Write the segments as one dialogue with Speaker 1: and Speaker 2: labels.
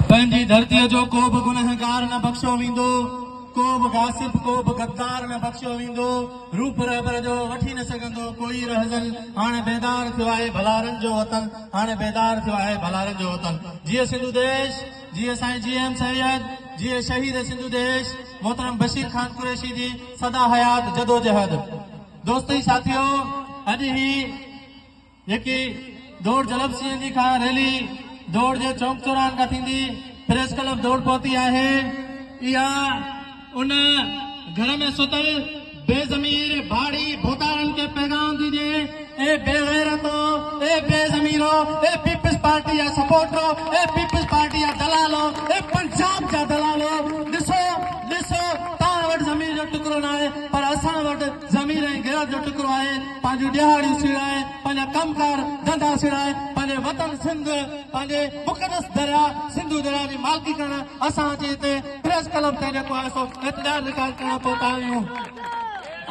Speaker 1: پنهنجي ڌرتيء جو ڪو به گنهگار نه بخشيو ويندو، ڪو به غاصب، ڪو به غدار نه بخشيو ويندو، روپ رهبر جو وٺي نه سگهندو ڪوئي رهزن، هاڻ بيدار ٿيو آهي ڀلارن جو وطن، هاڻ بيدار ٿيو آهي ڀلارن جو وطن. جيئي سنڌو ديش، جيئي سائين جي ايم سيد، جيئي شهيد سنڌو ديش محترم بشير خان قريشي جي سدا حيات جدوجهد. دوستي ساٿيو! اڄ هي جيڪي دوڙ جلب سي اين جي کان ريلي دوڙ جي چوڪ چوراهن کان ٿيندي پريس ڪلب دوڙ پهتي آهي اها ان گهر ۾ ستل بي ضمير ڀاڙي ڀوتارن کي پيغام ڏجي اي بي غيرتو اي بي ضميرو اي پيپلز پارٽي جا سپورٽرو اي پيپلز پارٽي جا دلالو اي پنجاب جا دلالو ڏسو ڏسو توهان وٽ ضمير جو ٽڪرو ناهي پر اسان وٽ ضمير ۽ غيرت جو ٽڪرو آهي. پنهنجون ڏيهاڙيون سيڙائي، پنهنجا ڪم ڪار ڌنڌا سيڙائي، پنهنجي وطن سنڌ، پنهنجي مقدس درياء سنڌو درياء جي مالڪي ڪرڻ اسان اچي هتي پريس ڪلب تي جيڪو آهي سو اعتدار رڪارڊ ڪرڻ پهتا آهيون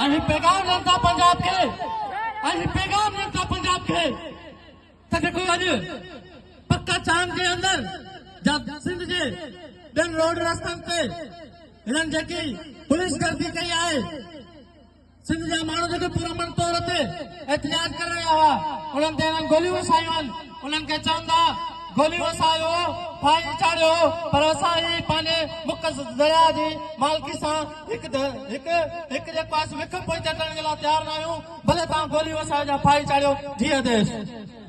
Speaker 1: ۽ هي پيغام ڏين ٿا پنجاب کي ۽ هي پيغام ڏين ٿا پنجاب کي ته جيڪو اڄ پڪا چاند جي اندر جا سنڌ جي ٻين روڊ رستن تي هنن جيڪي پوليس گردي ڪئي آهي سنڌ جا ماڻهو جيڪي پرامن طور تي احتجاج ڪري رهيا هئا انهن تي هنن گوليون وسايون هن انهن کي چون ٿا گوليون وسايو ڦاهي چاڙهيو پر اسان هي پنهنجي مک درياء جي مالڪي سان هڪ هڪ هڪ جيڪو آهي سو وک پوئتي ڪرڻ جي لاء تيار ناهيون ڀلي توهان گوليون وسايو جا ڦاهي چاڙهيو جي آديش